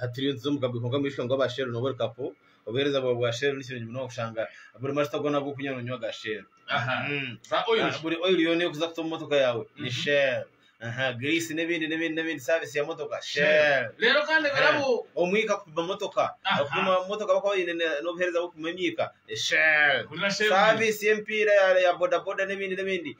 Hati turiyo nituza omu kaburi kwonka omwishiki wange ow'aba Sheero nooba ori kapo. Obuheereza bwawe bwa Sheero ni kirungi munonga kushanga buri majuta goona agu orikunywa noonywa ga Sheero. Aha. Mm. Za oil shi? Buri oyiri yoona ey'okuza kuta omu motoka yaawe ni Mhm. Sheero. Aha, giriisi n'ebindi n'ebindi n'ebindi saavisi ya motoka Sheero. Reero kandi ebirabo. Omwika kupima motoka. Aha. Okupima motoka abakuba baine ne- n'obuheereza bw'okupima emyika Sheero. Hurira Sheero. Saavisi y'emipiira ya- ya bodaboda n'ebindi n'ebindi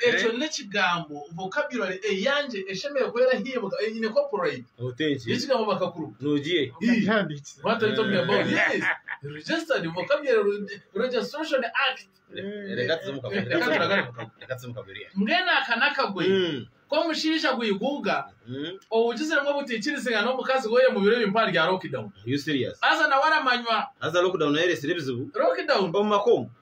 Ekyo n'ekigambo, vocabulary, eyangye eshemereire kuba erahimbwa, eine copyright y'ekigambo bakakuru. What are you talking about? Yes, registered vocabulary registration act. Reka tuze omu kagoye. Mbwenu aka n'akagoye k'omushaija gwiguuga owugiziremu obutaikirizingana n'omukazi we omu biro ebi mpaha rya lockdown. Haza nawe aramanywa. Haza lockdown nayo ereetsire ebizibu omu maka omu.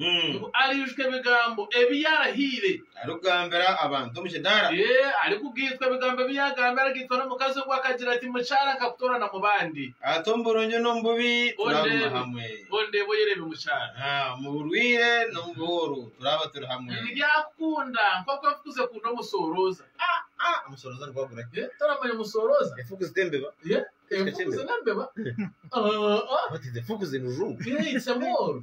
ngu ariijuka ebigambo ebi yaarahiire. Arikugambira abantu omu kidaara. Ee, arikugaitwa ebigambo ebi yaagambire. Aragaitwa n'omukazi ogwo akagira ati, Mukyara nkakutoorana mu bandi. Ati, Omu burungi n'omu bubi turaaguma hamwe. Ondeebe oyereebe mukyara. Omu burwaire n'omu buhuru turaaba turi hamwe. Nibyakukunda nk'oku efuku zikunda omusoorooza. Aa, aa, omusoorooza nigwo agura ki? Ee, toramanya omusoorooza? Efuku zita embeba. Ee, efuku zita embeba. Aa, aa. What is efuku in Rujungu? Ee, it's a mole.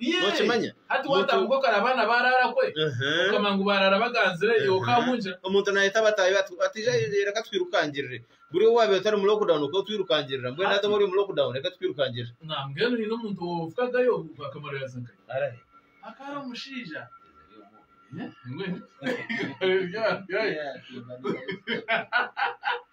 Nokimanya? Omuntu nayeta bataahi be ati, Ija reka twirukangirire. Buri owaabaire otari mu lockdown okaba otwirukangirira. Mbwenu hati obu ori omu lockdown reka tukwirukangirire. Arai!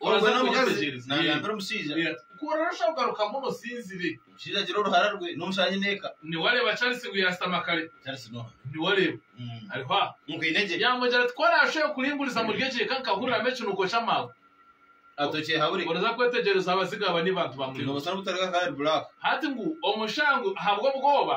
Omukazi nagambira omushaija ku orarusha kugaruka mbwenu osinzire. Omushaija agira oruhara rwe n'omushaija aine eka. Niwareeba Charles ngu yaashutama kare? Charles n'oha? Niwareeba? Ari hwa? Nkaine gye. Yaamugira ati, Ku oraashube kuringuriza muri egyo eka nkahuriramu ekinuko ky'amaagwa. Ati, Okyehabure. Oraza kwetegyereza abazigu aba ni bantu ba murimo ki? Tihaine obusoni obutaruga ahari Black. Hati ngu omushango ahabw'obwoba.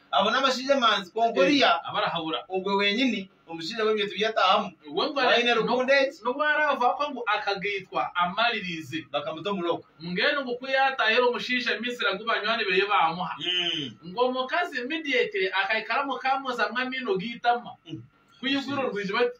Abo n'abashaija emanzi kwonka oriya ogwe wenyini omushaija w'ebintu bi yatahamu waine rukundo egi. N'obu araafa afa ngu akagaitwa amaririize. Bakamuta omu lock. Mbwenu ngu ku yaatahire omushaija Misri agu banywani beye baamuha. Ngu omukazi Midiate akaikara mukamozamu amaino g'eitama. Ku iguru rwije bati.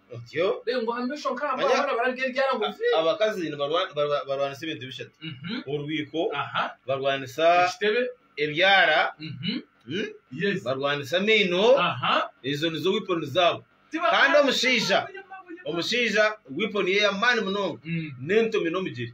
Otyo. Abakazi barwanisa ebintu bishatu. Orwiko, barwanisa ebyara, barwanisa amaino, ezo nizo wiponi zaabo. Kandi omushaija, omushaija wiponi ye ey'amaani munonga n'entomi n'omugyere.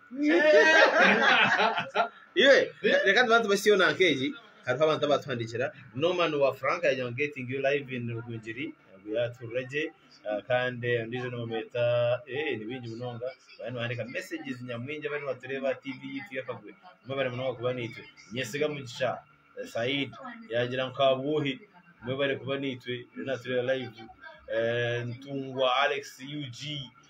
Iwe, reka tubanze tubase Siona nk'egi. Hariho abantu abatuhandikira. Norman wa Frank yagira ngu getting you live in Rugungiri. Ngu yaturira gye. Ah, Kandi ondiijo nibamweta, eh, ni bingi munonga. Bariyo nibahandika messages nyamwingi abariyo nibatureeba aha TV yaitu y'akagwe. Mwebare munonga kuba naitwe. Nyesiga Mugisha, eh, Said, yagira ngu Kabuuhi. Mwebare kuba naitwe. Ariyo natureeba live. Eh, Ntungwa Alex, UG.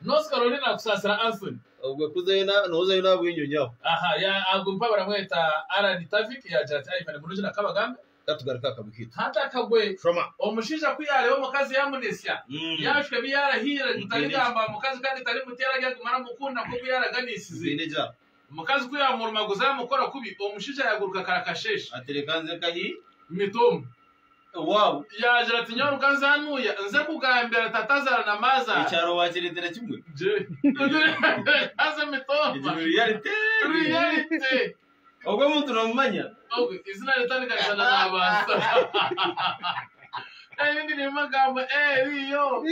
North Carolina kusaasira Anthony. Obwe kuzayo na nozayo na bwingi onyaho. Aha ya agwe mpa baramweta Alan Tavik yagira ati Ivan murungi na Kabagambe. Ka tugaruke aha kabi kitu. Hati akagwe. Shoma. Omushaija ku yaareba omukazi yaamunesya, yaashuka ebi yaarahiire ngu tarigambaho mukazi kandi tarimuteera ryagumira amukunda nk'oku yaaraganiisize. Nkaine gya. Omukazi ku yaamurumaguza yaamukora kubi, omushaija yaaguruka karakasheeshe. Ati, Reka nze ka hi. Mitomu. Ewaabu. Yaagira ati, Nyaruka nze hanuuya, nze kugambira taatazaara na maazaara. Ekyaro waakireetera kimwe. Gye. Haza Mitomu. Egi ni reality. Reality. Ogwo omuntu noomumanya? Ogwo eizina ritandika rishana naabaasa. Erindi riimu agamba, Eriiyo.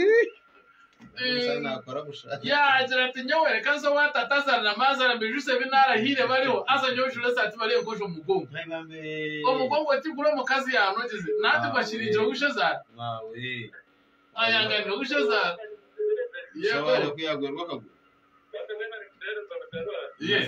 Yaagira ati, Nyowe reka nze owa tata azaara na maazaara mbaijutsye ebi naarahiire bariho, haza nyowe njure esaati bariho enkojo omu mugongo. Omugongo tiguri omukazi yaanogize, nandi ngu akiriigire ow'eishezaara. Ayanganire ow'eishezaara. Yego. Yego.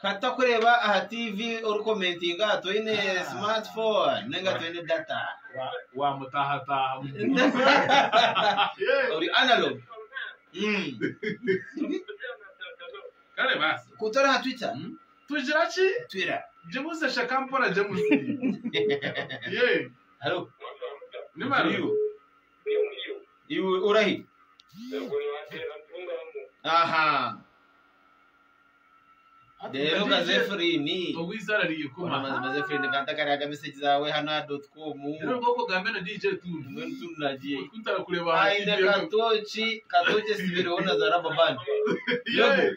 Ka tutakureeba aha TV orikomentinga aha toine smartphone ninga toine data. wamutahataaha Ori analog. Mm. kare baasi Ku turi aha Twitter, mm, tugira ki twira. gibuze shaka mpora james ye Hello. ni baro Turiyo. Iwe orahi? Aha. Rero nka Zefirini. Amazima Zefirini ka ntakariha aga meseji zaawe hanu aha doti komu. Mbwenu turina gye. Aine Katoki, Katoki esibireho na za raba bandi. Yobu.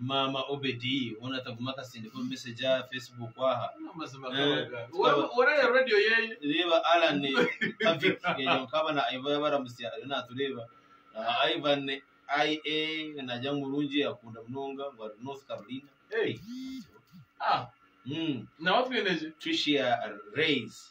maama obedi hoona ataguma akatsindika omu message aha facebook aha Amazima Eh, gabaga. tukaba- Ora ya radio yeye. reeba alan kavik eyo nkaba na iva yabaramutsya ariyo natureeba aha ivan ia nagira ngu murungi yakunda munonga ngu ari north carolina Hey. Ah, Mm, nawe atwinegye. tricia rays